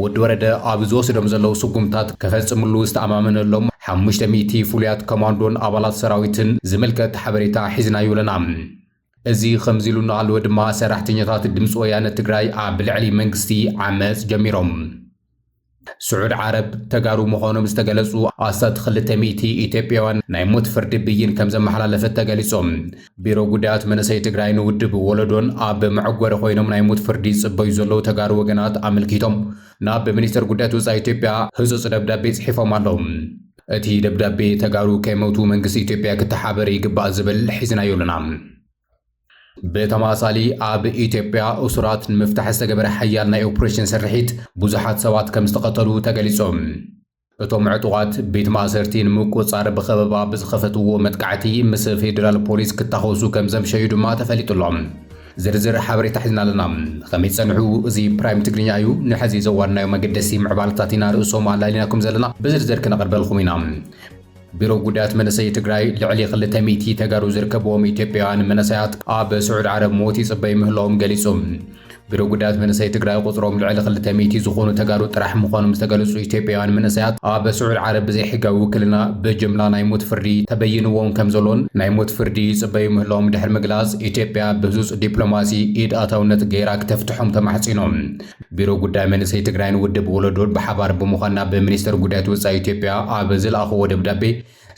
ወዲ ወረደ ኣብ ዝወስዶም ዘለዉ ስጉምታት ከፈጽምሉ ዝተኣማመነሎም ሓሙሽተ ሚእቲ ፍሉያት ኮማንዶን ኣባላት ሰራዊትን ዝምልከት ሓበሬታ ሒዝናዩ ኣለና። እዚ ከምዚ ኢሉ እናሃለወ ድማ ሰራሕተኛታት ድምፂ ወያነ ትግራይ ኣብ ልዕሊ መንግስቲ ዓመፅ ጀሚሮም። ስዑድ ዓረብ ተጋሩ ምዃኖም ዝተገለፁ ኣስታት ክልተ ሚእቲ ኢትዮጵያውያን ናይ ሞት ፍርዲ ብይን ከምዘመሓላለፈት ተገሊፁ። ቢሮ ጉዳያት መንእሰይ ትግራይ ንውድብ ወለዶን ኣብ መዕጎሪ ኮይኖም ናይ ሞት ፍርዲ ይጽበዩ ዘለዉ ተጋሩ ወገናት ኣመልኪቶም ናብ ሚኒስተር ጉዳያት ወፃኢ ኢትዮጵያ ህጹጽ ደብዳቤ ጽሒፎም ኣለዉ። እቲ ደብዳቤ ተጋሩ ከይመቱ መንግስቲ ኢትዮጵያ ክተሓበር ይግባእ ዝብል ሒዝናዮ ኣለና። ብተመሳሳሊ ኣብ ኢትዮጵያ እሱራት ንምፍታሕ ዝተገበረ ሓያል ናይ ኦፕሬሽን ስርሒት ብዙሓት ሰባት ከም ዝተቐተሉ ተገሊጹ። እቶም ዕጡቓት ቤት ማእሰርቲ ንምቁፅፃር ብኸበባ ብዝኸፈትዎ መጥቃዕቲ ምስ ፌዴራል ፖሊስ ክታኾሱ ከም ዘምሸዩ ድማ ተፈሊጡ ኣሎ። ዝርዝር ሓበሬታ ሒዝና ኣለና። ኸመይ ትፀንሑ? እዚ ፕራይም ትግርኛ እዩ። ንሐዚ ዘዋድናዮም ኣገደስቲ ምዕባለታት ኢና ርእሶም ኣላሊናኩም ዘለና። ብዝርዝር ክነቕርበልኹም ኢና። ቢሮ ጉዳያት መንእሰይ ትግራይ ልዕሊ ክልተ ሚእቲ ተጋሩ ዝርከብዎም ኢትዮጵያውያን መንእሰያት ኣብ ስዑድ ዓረብ ሞት ይጽበዩ ምህላዎም ገሊጹ። ቢሮ ጉዳያት መንእሰይ ትግራይ ቁጽሮም ልዕሊ ክልተ ሚእቲ ዝኾኑ ተጋሩ ጥራሕ ምዃኖም ዝተገለጹ ኢትዮጵያውያን መንእሰያት ኣብ ስዑድ ዓረብ ብዘይሕጋዊ ውክልና ብጅምላ ናይ ሞት ፍርዲ ተበይንዎም ከምዘሎን ናይ ሞት ፍርዲ ይጽበዩ ምህላዎም ድሕሪ ምግላጽ ኢትዮጵያ ብህጹጽ ዲፕሎማሲ ኢድ ኣታውነት ገይራ ክተፍትሖም ተማሕጺኖም። ቢሮ ጉዳይ መንእሰይ ትግራይን ውድብ ወለዶን ብሓባር ብምዃን ናብ ሚኒስተር ጉዳያት ወፃኢ ኢትዮጵያ ኣብ ዝለኣኽዎ ደብዳቤ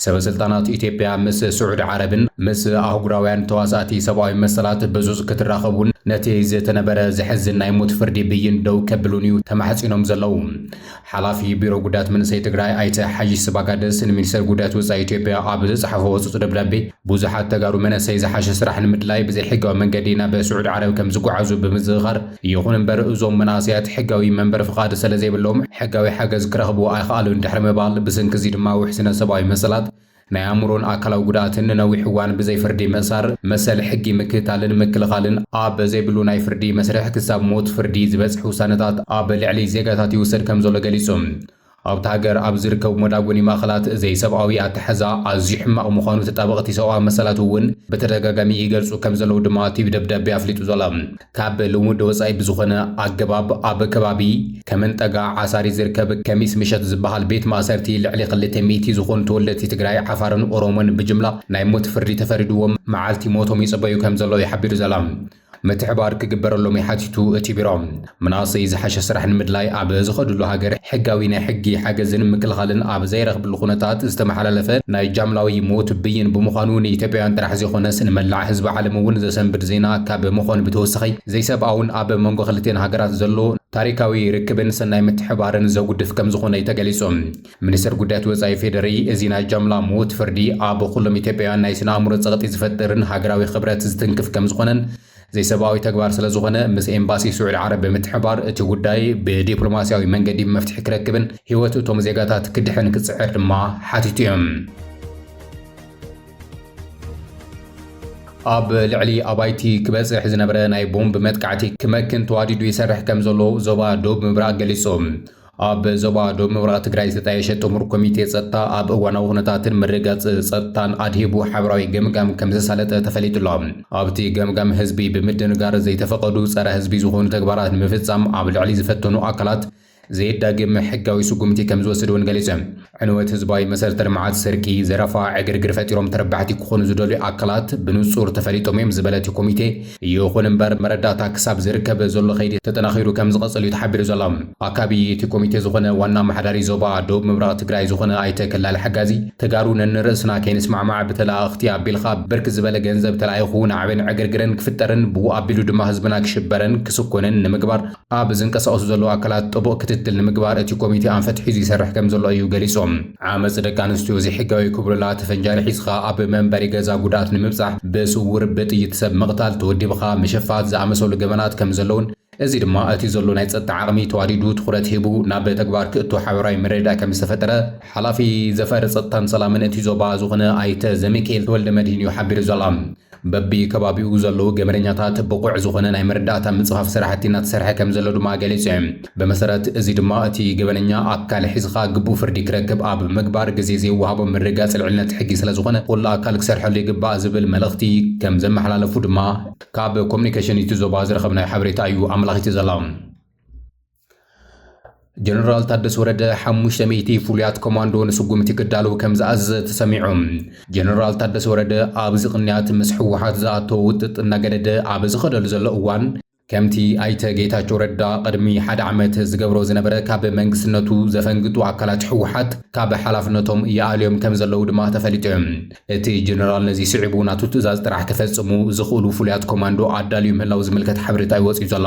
ሰበስልጣናት ኢትዮጵያ ምስ ስዑዲ ዓረብን ምስ ኣህጉራውያን ተዋሳእቲ ሰብኣዊ መሰላት ብዙዝ ክትራኸቡን ነቲ ዝተነበረ ዘሕዝን ናይ ሞት ፍርዲ ብይን ደው ከብሉን እዩ ተማሕፂኖም ዘለዉ። ሓላፊ ቢሮ ጉዳያት መንእሰይ ትግራይ ኣይተ ሓይሽ ስባጋደስ ንሚኒስተር ጉዳያት ወፃኢ ኢትዮጵያ ኣብ ዘፅሓፎ ህፁፅ ደብዳቤ ብዙሓት ተጋሩ መነእሰይ ዝሓሸ ስራሕ ንምድላይ ብዘይሕጋዊ መንገዲ ናብ ስዑድ ዓረብ ከምዝጓዓዙ ብምዝኽኻር ይኹን እምበር እዞም መናእሰያት ሕጋዊ መንበሪ ፍቓድ ሰለዘይብሎም ሕጋዊ ሓገዝ ክረኽቡ ኣይኸኣሉን ድሕሪ ምባል ብስንኪ እዚ ድማ ውሕስነት ሰብኣዊ መሰላት ናይ ኣእምሮን ኣካላዊ ጉድኣትን ንነዊሕ እዋን ብዘይ ፍርዲ ምእሳር፣ መሰል ሕጊ ምክትታልን ምክልኻልን ኣብ ዘይብሉ ናይ ፍርዲ መስርሕ ክሳብ ሞት ፍርዲ ዝበጽሕ ውሳነታት ኣብ ልዕሊ ዜጋታት ይውሰድ ከምዘሎ ገሊጹ። ኣብታ ሃገር ኣብ ዝርከቡ መዳጎኒ ማእኸላት ዘይሰብኣዊ ኣተሓሕዛ ኣዝዩ ሕማቕ ምዃኑ ተጣበቕቲ ሰብኣዊ መሰላት እውን ብተደጋጋሚ ይገልጹ ከምዘለዉ ድማ እቲ ደብዳቤ ኣፍሊጡ ዘሎ። ካብ ልሙድ ወጻኢ ብዝኾነ ኣገባብ ኣብ ከባቢ ከመንጠጋ ዓሳሪ ዝርከብ ከሚስ ምሸት ዝበሃል ቤት ማእሰርቲ ልዕሊ ክልተ ሚእቲ ዝኾኑ ተወለድቲ ትግራይ፣ ዓፋርን ኦሮሞን ብጅምላ ናይ ሞት ፍርዲ ተፈሪድዎም መዓልቲ ሞቶም ይጽበዩ ከምዘለዉ እዩ ሓቢሩ ዘሎ። ምትሕብባር ክግበረሎም እዩ ሓቲቱ እቲ ቢሮ። መናእሰይ ዝሓሸ ስራሕ ንምድላይ ኣብ ዝኸድሉ ሃገር ሕጋዊ ናይ ሕጊ ሓገዝን ምክልኻልን ኣብ ዘይረኽብሉ፣ ብኩነታት ዝተመሓላለፈ ናይ ጃምላዊ ሞት ብይን ብምዃኑ ንኢትዮጵያውያን ጥራሕ ዘይኾነስ ንመላዕ ህዝቢ ዓለም እውን ዘሰንብድ ዜና ካብ ምኾን ብተወሳኺ ዘይሰብኣውን ኣብ መንጎ ክልቲኤን ሃገራት ዘሎ ታሪካዊ ርክብን ሰናይ ምትሕብባርን ዘጉድፍ ከምዝኾነ እዩ ተገሊፁ። ሚኒስትር ጉዳያት ወፃኢ ፌዴሪኢ እዚ ናይ ጃምላ ሞት ፍርዲ ኣብ ኹሎም ኢትዮጵያውያን ናይ ስነ ኣእምሮ ፀቕጢ ዝፈጥርን ሃገራዊ ክብረት ዝትንክፍ ከምዝኾነን ዘይሰብኣዊ ተግባር ስለዝኾነ ምስ ኤምባሲ ስዑዲ ዓረብ ብምትሕብባር እቲ ጉዳይ ብዲፕሎማስያዊ መንገዲ መፍትሒ ክረክብን ህይወት እቶም ዜጋታት ክድሕን ክፅዕር ድማ ሓቲቱ እዩ። ኣብ ልዕሊ ኣባይቲ ክበጽሕ ዝነበረ ናይ ቦምብ መጥቃዕቲ ክመክን ተዋዲዱ ይሰርሕ ከም ዘሎ ዞባ ዶብ ምብራቕ ገሊጹ። ኣብ ዞባ ደቡብ ምብራቕ ትግራይ ዝተጣየሸ ጥሙር ኮሚቴ ጸጥታ ኣብ እዋናዊ ኩነታትን ምርግጋጽ ጸጥታን ኣድሂቡ ሓበራዊ ገምጋም ከም ዘሳለጠ ተፈሊጡ ኣሎ። ኣብቲ ገምጋም ህዝቢ ብምድንጋር ዘይተፈቐዱ ጸረ ህዝቢ ዝኾኑ ተግባራት ንምፍጻም ኣብ ልዕሊ ዝፈተኑ ኣካላት ዘየዳግም ሕጋዊ ስጉምቲ ከም ዝወስድ እውን ገሊጹ። ዕንወት ህዝባዊ መሰረተ ልምዓት፣ ስርቂ፣ ዘረፋ፣ ዕግርግር ፈጢሮም ተረባሕቲ ክኾኑ ዝደልዩ ኣካላት ብንፁር ተፈሊጦም እዮም ዝበለ እቲ ኮሚቴ፣ ይኹን እምበር መረዳእታ ክሳብ ዝርከብ ዘሎ ከይዲ ተጠናኺሩ ከምዝቐፅል እዩ ተሓቢሩ ዘሎ። ኣካቢ እቲ ኮሚቴ ዝኾነ ዋና ኣመሓዳሪ ዞባ ደቡብ ምብራቕ ትግራይ ዝኾነ ኣይተ ከላሊ ሓጋዚ፣ ተጋሩ ነንርእስና ከይንስማዕማዕ ብተለኣእኽቲ ኣቢልኻ ብርክት ዝበለ ገንዘብ ተላኢኹ ናዕብን ዕግርግርን ክፍጠርን ብኡ ኣቢሉ ድማ ህዝብና ክሽበርን ክስኮንን ንምግባር ኣብ ዝንቀሳቐሱ ዘለዉ ኣካላት ጥቡቕ ክትትል ንምግባር እቲ ኮሚቴ ኣንፈት ሒዙ ይሰርሕ ከምዘሎ እዩ ገሊጹ። ዓመጽ ደቂ ኣንስትዮ ዘይሕጋዊ ክብሉላ እቲ ፈንጃሪ ሒዝኻ ኣብ መንበሪ ገዛ ጉድኣት ንምብጻሕ ብስዉር ብጥይት ሰብ ምቕታል፣ ተወዲብኻ ምሽፋት ዝኣመሰሉ ገበናት ከምዘለዉን እዚ ድማ እቲ ዘሎ ናይ ጸጥታ ዓቕሚ ተዋዲዱ ትኹረት ሂቡ ናብ ተግባር ክእቶ ሓበራዊ ምርድዳእ ከምዝተፈጠረ ሓላፊ ዘፈር ጸጥታን ሰላምን እቲ ዞባ ዝኾነ ኣይተ ዘሚኪኤል ተወልደመድሂን እዩ ሓቢሩ ዘሎ። በቢ ከባቢኡ ዘለዉ ገበነኛታት ብቑዕ ዝኾነ ናይ መረዳእታ ምጽፋፍ ስራሕቲ እናተሰርሐ ከምዘሎ ድማ ገሊጹ። ብመሰረት እዚ ድማ እቲ ገበነኛ ኣካል ሒዝኻ ግቡእ ፍርዲ ክረክብ ኣብ ምግባር ግዜ ዘይወሃቦ ምርጋጽ ልዕልነት ሕጊ ስለዝኾነ ኩሉ ኣካል ክሰርሐሉ ይግባእ ዝብል መልእኽቲ ከምዘመሓላለፉ ድማ ካብ ኮሙኒኬሽን እቲ ዞባ ዝረኸብናዮ ሓበሬታ እዩ ኣመላኺቱ ዘሎ። ጀነራል ታደሰ ወረደ ሓሙሽተ ሚእቲ ፍሉያት ኮማንዶ ንስጉምቲ ክዳለዉ ከም ዝኣዘዘ ተሰሚዑ። ጀነራል ታደሰ ወረደ ኣብዚ ቅንያት ምስ ህወሓት ዝኣተወ ውጥጥ እናገደደ ኣብ ዝኸደሉ ዘሎ እዋን ከምቲ ኣይተ ጌታቸው ረዳ ቅድሚ ሓደ ዓመት ዝገብሮ ዝነበረ ካብ መንግስትነቱ ዘፈንግጡ ኣካላት ህወሓት ካብ ሓላፍነቶም ይኣልዮም ከም ዘለዉ ድማ ተፈሊጡ እዩ። እቲ ጀነራል ነዚ ስዒቡ ናቱ ትእዛዝ ጥራሕ ክፈጽሙ ዝኽእሉ ፍሉያት ኮማንዶ ኣዳልዩ ምህላው ዝምልከት ሓበሬታ እዩ ወፂኡ ዘሎ።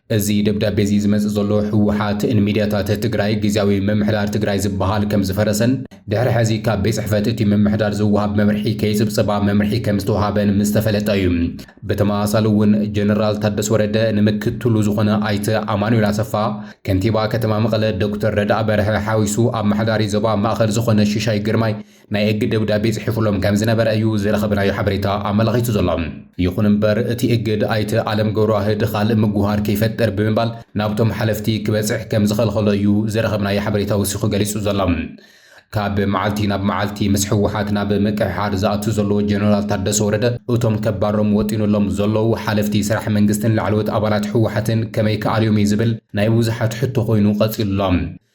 እዚ ደብዳቤ እዚ ዝመጽእ ዘሎ ህወሓት ን ሚድያታት ትግራይ ግዝያዊ ምምሕዳር ትግራይ ዝበሃል ከም ዝፈረሰን ድሕሪ ሐዚ ካብ ቤት ፅሕፈት እቲ ምምሕዳር ዝወሃብ መምርሒ ከይፅብፅባ መምርሒ ከም ዝተውሃበን ምስ ተፈለጠ እዩ። ብተመሳሳሊ እውን ጀነራል ታደሰ ወረደ ን ምክትሉ ዝኾነ ኣይተ ኣማኑኤል ኣሰፋ፣ ከንቲባ ከተማ መቐለ ዶክተር ረድኣ በርሀ ሓዊሱ ኣመሓዳሪ ዞባ ማእኸል ዝኾነ ሽሻይ ግርማይ፣ ናይ እግድ ደብዳቤ ጽሒፉሎም ከም ዝነበረ እዩ ዝረኸብናዮ ሓበሬታ ኣመላኺቱ ዘሎ። ይኹን እምበር እቲ እግድ ኣይተ ኣለም ገብረዋህድ ኻልእ ምጉህሃር ከይፈጥር ብምባል ናብቶም ሓለፍቲ ክበጽሕ ከም ዝኸልኸሎ እዩ ዝረኸብናዮ ሓበሬታ ወሲኹ ገሊጹ ዘሎ። ካብ መዓልቲ ናብ መዓልቲ ምስ ህወሓት ናብ ምቅሕሓር ዝኣቱ ዘሎ ጀነራል ታደሰ ወረደ እቶም ከባሮም ወጢኑሎም ዘለው ሓለፍቲ ስራሕ መንግስትን ላዕለዎት ኣባላት ህወሓትን ከመይ ክኣልዮም እዩ ዝብል ናይ ብዙሓት ሕቶ ኾይኑ ቀጺሉ ኣሎ።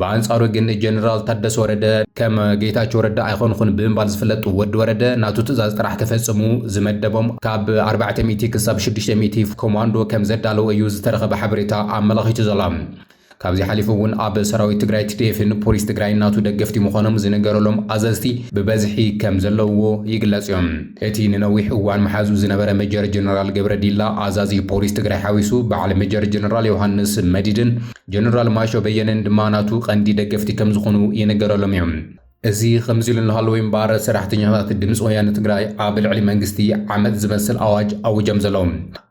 ብኣንጻሩ ግን ጀነራል ታደሰ ወረደ ከም ጌታቸው ረዳ ኣይኮንኹን ብምባል ዝፍለጡ ወዲ ወረደ ናቱ ትእዛዝ ጥራሕ ክፈጽሙ ዝመደቦም ካብ 400 ክሳብ 600 ኮማንዶ ከም ዘዳለወ እዩ ዝተረኸበ ሓበሬታ ኣመላኺቱ ዘሎ። ካብዚ ሓሊፉ እውን ኣብ ሰራዊት ትግራይ ቲዲኤፍን ፖሊስ ትግራይ ናቱ ደገፍቲ ምዃኖም ዝነገረሎም ኣዘዝቲ ብበዝሒ ከም ዘለውዎ ይግለጽ እዮም። እቲ ንነዊሕ እዋን መሓዙ ዝነበረ ሜጀር ጀነራል ገብረ ዲላ ኣዛዚ ፖሊስ ትግራይ ሓዊሱ በዓል ሜጀር ጀነራል ዮሃንስ መዲድን ጀነራል ማሾ በየነን ድማ ናቱ ቀንዲ ደገፍቲ ከም ዝኾኑ ይንገረሎም እዩ። እዚ ከምዚ ኢሉ እናሃለወ እምበኣር ሰራሕተኛታት ድምፂ ወያነ ትግራይ ኣብ ልዕሊ መንግስቲ ዓመፅ ዝመስል ኣዋጅ ኣዊጆም ዘለዉ።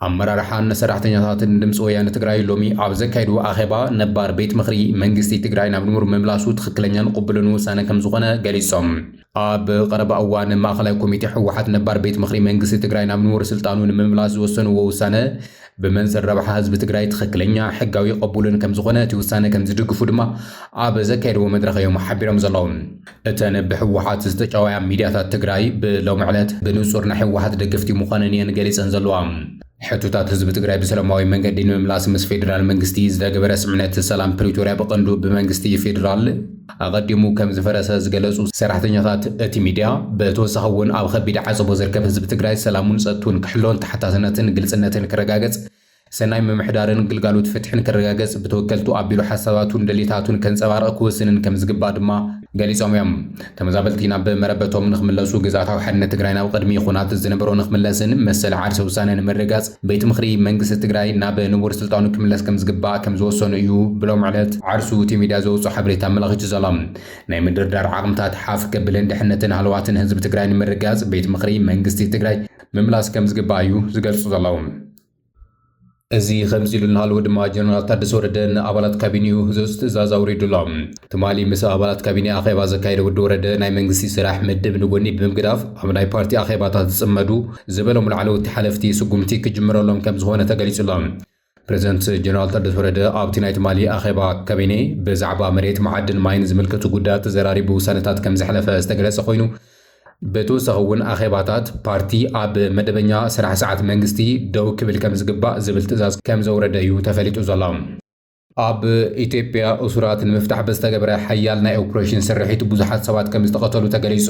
ኣመራርሓን ሰራሕተኛታትን ድምፂ ወያነ ትግራይ ሎሚ ኣብ ዘካየድዎ ኣኼባ ነባር ቤት ምኽሪ መንግስቲ ትግራይ ናብ ንቡር ምምላሱ ትኽክለኛን ቕቡልን ውሳነ ከም ዝኾነ ገሊፆም። ኣብ ቐረባ እዋን ማእኸላይ ኮሚቴ ህወሓት ነባር ቤት ምኽሪ መንግስቲ ትግራይ ናብ ንቡር ስልጣኑ ንምምላስ ዝወሰንዎ ውሳነ ብመንፅር ረብሓ ህዝቢ ትግራይ ትኽክለኛ ሕጋዊ ቐቡልን ከምዝኾነ እቲ ውሳነ ከምዝድግፉ ድማ ኣብ ዘካየድዎ መድረኽ እዮም ሓቢሮም ዘለዉ። እተን ብህወሓት ዝተጨወያ ሚድያታት ትግራይ ብሎሚ ዕለት ብንፁር ናይ ህወሓት ደገፍቲ ምዃነን እየን ገሊፀን ዘለዋ። ሕቶታት ህዝቢ ትግራይ ብሰለማዊ መንገዲ ንምምላስ ምስ ፌዴራል መንግስቲ ዝተገበረ ስምምዕነት ሰላም ፕሪቶርያ ብቐንዱ ብመንግስቲ ፌዴራል፣ ኣቐዲሙ ከም ዝፈረሰ ዝገለፁ ሰራሕተኛታት እቲ ሚድያ፣ ብተወሳኺ እውን ኣብ ኸቢድ ዓፀቦ ዝርከብ ህዝቢ ትግራይ ሰላሙን ፀጥትኡን ክሕሎን ተሓታትነትን ግልፅነትን ክረጋገፅ፣ ሰናይ ምምሕዳርን ግልጋሎት ፍትሕን ክረጋገፅ ብተወከልቱ ኣቢሉ ሓሳባቱን ድሌታቱን ከንፀባርቕ ክውስንን ከም ዝግባእ ድማ ገሊፆም እዮም። ተመዛበልቲ ናብ መረበቶም ንክምለሱ፣ ግዝኣታዊ ሓድነት ትግራይ ናብ ቐድሚ ኹናት ዝነበሮ ንክምለስን መሰል ዓርሰ ውሳነ ንምርግጋፅ፣ ቤት ምኽሪ መንግስቲ ትግራይ ናብ ንቡር ስልጣኑ ክምለስ ከምዝግባእ ከምዝወሰኑ እዩ ብሎም ዕለት ዓርሱ እቲ ሚድያ ዘውፅኦ ሓበሬታ ኣመላኺቱ ዘሎ። ናይ ምድርዳር ዓቕምታት ሓፍ ከብልን ድሕነትን ሃለዋትን ህዝቢ ትግራይ ንምርግጋፅ ቤት ምኽሪ መንግስቲ ትግራይ ምምላስ ከምዝግባእ እዩ ዝገልፁ ዘለዉ። እዚ ከምዚ ኢሉ እናሃለወ ድማ ጀነራል ታደሰ ወረደ ንኣባላት ካቢኒኡ ህፁፅ ትእዛዝ ኣውሪዱ ኣሎ። ትማሊ ምስ ኣባላት ካቢኔ ኣኼባ ዘካየደ ወዲ ወረደ ናይ መንግስቲ ስራሕ ምድብ ንጎኒ ብምግዳፍ ኣብ ናይ ፓርቲ ኣኼባታት ዝፅመዱ ዝበሎም ላዕለወቲ ሓለፍቲ ስጉምቲ ክጅምረሎም ከምዝኾነ ተገሊፁ ኣሎ። ፕረዚደንት ጀነራል ታደሰ ወረደ ኣብቲ ናይ ትማሊ ኣኼባ ካቢኔ ብዛዕባ መሬት፣ መዓድን ማይን ዝምልከቱ ጉዳያት ተዘራሪቡ ውሳነታት ከምዘሕለፈ ዝተገለፀ ኮይኑ ብተወሳኺ እውን ኣኼባታት ፓርቲ ኣብ መደበኛ ስራሕ ሰዓት መንግስቲ ደው ክብል ከምዝግባእ ዝብል ትእዛዝ ከምዘውረደ እዩ ተፈሊጡ ዘሎ። ኣብ ኢትዮጵያ እሱራት ንምፍታሕ ብዝተገብረ ሓያል ናይ ኦፕሬሽን ስርሒት ብዙሓት ሰባት ከም ዝተቐተሉ ተገሊጹ።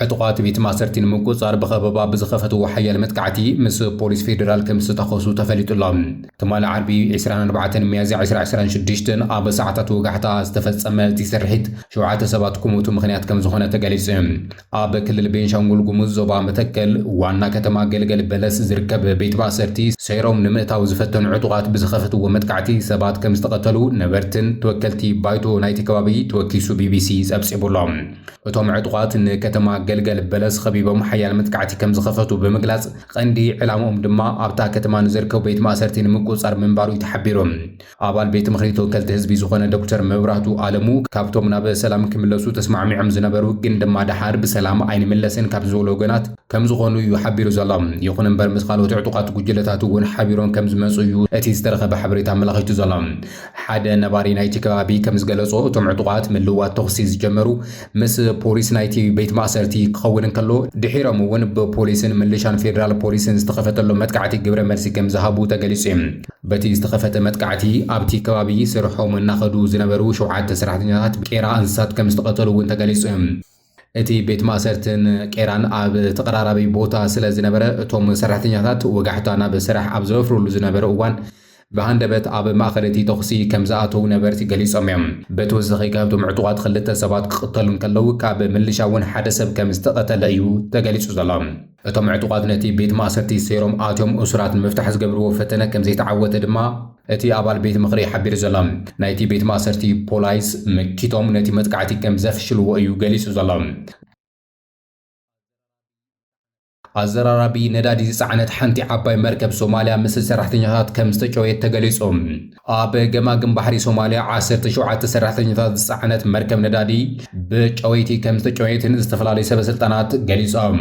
ዕጡቓት ቤት ማእሰርቲ ንምቁጽጻር ብኸበባ ብዝኸፈትዎ ሓያል መጥቃዕቲ ምስ ፖሊስ ፌደራል ከም ዝተታኾሱ ተፈሊጡ'ሎ። ትማሊ ዓርቢ ዕስራን ኣርባዕተን ሚያዝያ ዕስራ ዕስራን ሽዱሽተን ኣብ ሰዓታት ወጋሕታ ዝተፈጸመ እቲ ስርሒት ሸውዓተ ሰባት ክሞቱ ምኽንያት ከም ዝኾነ ተገሊጹ። ኣብ ክልል ቤንሻንጉል ጉሙዝ ዞባ መተከል ዋና ከተማ ገልገል በለስ ዝርከብ ቤት ማእሰርቲ ሰይሮም ንምእታው ዝፈተኑ ዕጡቓት ብዝኸፈትዎ መጥቃዕቲ ሰባት ከም ዝተቐተሉ ነበርትን ተወከልቲ ባይቶ ናይቲ ከባቢ ተወኪሱ ቢቢሲ ጸብጺቡ ኣሎ። እቶም ዕጡቓት ንከተማ ገልገል በለስ ኸቢቦም ሓያል መጥቃዕቲ ከም ዝኸፈቱ ብምግላጽ፣ ቐንዲ ዕላምኦም ድማ ኣብታ ከተማ ንዝርከቡ ቤት ማእሰርቲ ንምቁጽጻር ምንባሩ'ዩ ተሓቢሩ። ኣባል ቤት ምኽሪ ተወከልቲ ህዝቢ ዝኾነ ዶክተር መብራህቱ ኣለሙ ካብቶም ናብ ሰላም ክምለሱ ተስማዕሚዖም ዝነበሩ ግን ድማ ደሓር ብሰላም ኣይንምለስን ካብ ዝበሉ ወገናት ከም ዝኾኑ እዩ ሓቢሩ ዘሎ። ይኹን እምበር ምስ ካልኦት ዕጡቓት ጉጅለታት እውን ሓቢሮም ከም ዝመፁ እዩ እቲ ዝተረኸበ ሓበሬታ ኣመላኺቱ ዘሎ። ሓደ ነባሪ ናይቲ ከባቢ ከም ዝገለፆ እቶም ዕጡቓት ምልውዋጥ ተኹሲ ዝጀመሩ ምስ ፖሊስ ናይቲ ቤት ማእሰርቲ ክኸውን እንከሎ፣ ድሒሮም እውን ብፖሊስን ምልሻን ፌደራል ፖሊስን ዝተኸፈተሎም መጥቃዕቲ ግብረ መልሲ ከም ዝሃቡ ተገሊጹ እዩ። በቲ ዝተኸፈተ መጥቃዕቲ ኣብቲ ከባቢ ስርሖም እናኸዱ ዝነበሩ ሸውዓተ ሰራሕተኛታት ቄራ እንስሳት ከም ዝተቐተሉ እውን ተገሊጹ እዩ። እቲ ቤት ማእሰርትን ቄራን ኣብ ተቐራራቢ ቦታ ስለ ዝነበረ፣ እቶም ሰራሕተኛታት ወጋሕታ ናብ ስራሕ ኣብ ዘወፍርሉ ዝነበሩ እዋን ብሃንደበት ኣብ ማእኸል እቲ ተኹሲ ከም ዝኣተዉ ነበርቲ ገሊፆም እዮም። በተወሳኺ ካብቶም ዕጡቓት ኽልተ ሰባት ክቕተሉ እንከለዉ ካብ ምልሻ እውን ሓደ ሰብ ከም ዝተቐተለ እዩ ተገሊፁ ዘሎ። እቶም ዕጡቓት ነቲ ቤት ማእሰርቲ ሰይሮም ኣትዮም እሱራት ንምፍታሕ ዝገብርዎ ፈተነ ከም ዘይተዓወተ ድማ እቲ ኣባል ቤት ምኽሪ ሓቢሩ ዘሎ። ናይቲ ቤት ማእሰርቲ ፖላይስ መኪቶም ነቲ መጥቃዕቲ ከም ዘፍሽልዎ እዩ ገሊፁ ዘሎ። ኣዘራራቢ ነዳዲ ዝጸዓነት ሓንቲ ዓባይ መርከብ ሶማልያ ምስ ሰራሕተኛታት ከም ዝተጨወየት ተገሊጹ። ኣብ ገማግም ባሕሪ ሶማልያ ዓሰርተ ሸውዓተ ሰራሕተኛታት ዝጸዓነት መርከብ ነዳዲ ብጨወይቲ ከም ዝተጨወየትን ዝተፈላለዩ ሰበስልጣናት ገሊጾም።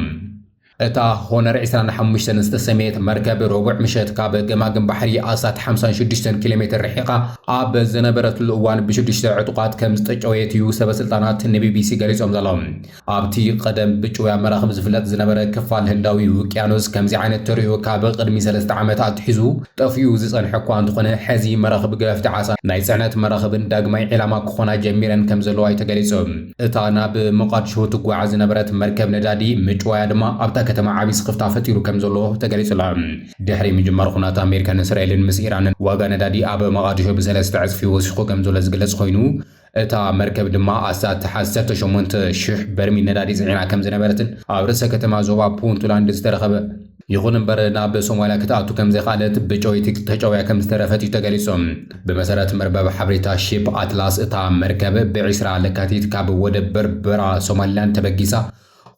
እታ ሆነር ዕስራን ሓሙሽተን ዝተሰምየት መርከብ ረቡዕ ምሸት ካብ ገማግም ባሕሪ ኣስታት ሓምሳን ሽዱሽተን ኪሎ ሜተር ርሒቓ ኣብ ዝነበረትሉ እዋን ብሽዱሽተ ዕጡቓት ከም ዝተጨወየት እዩ ሰበስልጣናት ንቢቢሲ ገሊጾም ዘለዉ። ኣብቲ ቐደም ብጭውያ መራኽብ ዝፍለጥ ዝነበረ ክፋል ህንዳዊ ውቅያኖስ ከምዚ ዓይነት ተርእዮ ካብ ቕድሚ ሰለስተ ዓመት ኣትሒዙ ጠፊኡ ዝጸንሐ እኳ እንተኾነ ሕዚ መራኽብ ገፈፍቲ ዓሳን ናይ ጽዕነት መራኽብን ዳግማይ ዒላማ ክኾና ጀሚረን ከምዘለዋ እዩ ተገሊጹ። እታ ናብ ሞቓድሽሁ ትጓዓዝ ዝነበረት መርከብ ነዳዲ ምጭዋያ ድማ ኣብታ ከተማ ዓቢ ስኽፍታ ፈጢሩ ከምዘሎ ተገሊጹ ኣሎ። ድሕሪ ምጅማር ኹናት ኣሜሪካን እስራኤልን ምስ ኢራንን ዋጋ ነዳዲ ኣብ መቓድሾ ብሰለስተ ዕጽፊ ወሲኹ ከምዘሎ ዝግለጽ ኾይኑ፣ እታ መርከብ ድማ ኣስታት ዓሰርተ ሸሞንተ ሽሕ በርሚል ነዳዲ ጽዒና ከም ዝነበረትን ኣብ ርእሰ ከተማ ዞባ ፑንትላንድ ዝተረኸበ ይኹን እምበር ናብ ሶማልያ ክትኣቱ ከም ዘይከኣለት ብጨወይቲ ተጨውያ ከም ዝተረፈት እዩ ተገሊጹ። ብመሰረት መርበብ ሓበሬታ ሺፕ ኣትላስ እታ መርከብ ብ ዕስራ ለካቲት ካብ ወደብ በርበራ ሶማሊላንድ ተበጊሳ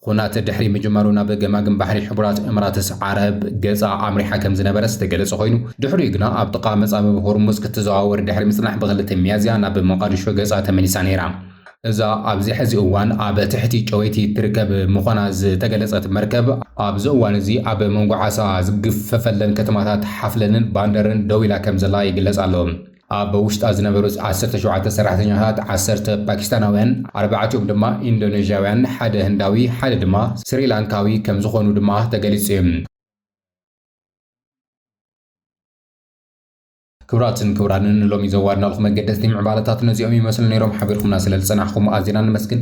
ኹናት ድሕሪ ምጅማሩ ናብ ገማግም ባሕሪ ሕቡራት እምራትስ ዓረብ ገጻ ኣምሪሓ ከም ዝነበረ ዝተገለጸ ኾይኑ፣ ድሕሪኡ ግና ኣብ ጥቓ መጻብብ ሆርሙዝ ክትዘዋወር ድሕሪ ምጽናሕ ብ ክልተ ሚያዝያ ናብ ሞቓድሾ ገጻ ተመሊሳ ነይራ። እዛ ኣብዚ ሕዚ እዋን ኣብ ትሕቲ ጨወይቲ እትርከብ ምዃና ዝተገለጸት መርከብ፣ ኣብዚ እዋን እዚ ኣብ መንጎ ዓሳ ዝግፈፈለን ከተማታት ሓፍለንን ባንደርን ደው ኢላ ከም ዘላ ይግለጽ ኣሎ። ኣብ ውሽጣ ዝነበሩ ዓሰርተ ሸውዓተ ሰራሕተኛታት ዓሰርተ ፓኪስታናውያን፣ ኣርባዕቲኦም ድማ ኢንዶነዥያውያን፣ ሓደ ህንዳዊ፣ ሓደ ድማ ስሪላንካዊ ከምዝኾኑ ድማ ተገሊፁ'ዩ። ክብራትን ክብራንን ንሎሚ ዘዋድናልኩም መገደስቲ ምዕባለታት ነዚኦም ይመስሉ ነይሮም ሓቢርኩምና ስለዝጸናሕኩም ኣዚና ነመስግን።